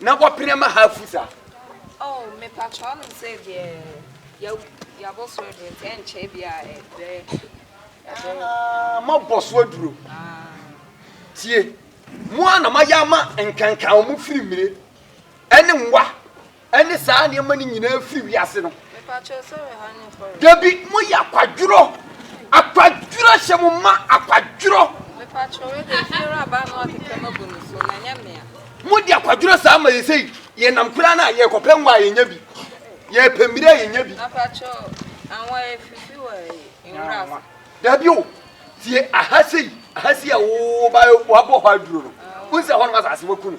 Na wɔpene ma ha afu saa. Oh, me pa kyɛ ɔnom sɛ deɛ ya yabɔ so aduro nti ɛnkyɛ bi a ɛbɛ ɛbɛ. Mabɔ so aduro. Tie, mo a na mayɛ ama nkankan wɔn firi mmire ɛne nwa Ɛne saa nneɛma no nyinaa firi wiase no. Dabi mo yɛ akwadworɔ. Akwadworɔ hyɛ mo ma akwadworɔ. Mo di akwadworɔ saa ma yɛ sei yɛ nam koraa na yɛ kɔpɛ nwa yɛ nya bi yɛ pɛ mmerɛ yɛ nya bi. Dabi o tie aha sei aha sei a wo ba wabɔ hɔ aduro no. Wosɛ hɔ no asase wakunu.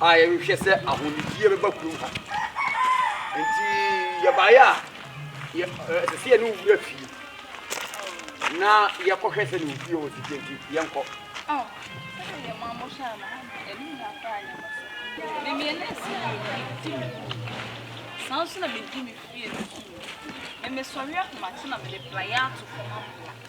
a yɛhwehwɛ sɛ ahonidie bɛba kurom ha nti yɛbaeɛ a ɛsɛ sɛ yɛne wura fie na yɛkɔhwɛ sɛ ne ofie wɔ sika nti yɛnkɔ saa nso na medi me fie no so na mesɔre ahomakye na mede plaeɛ ato fam apla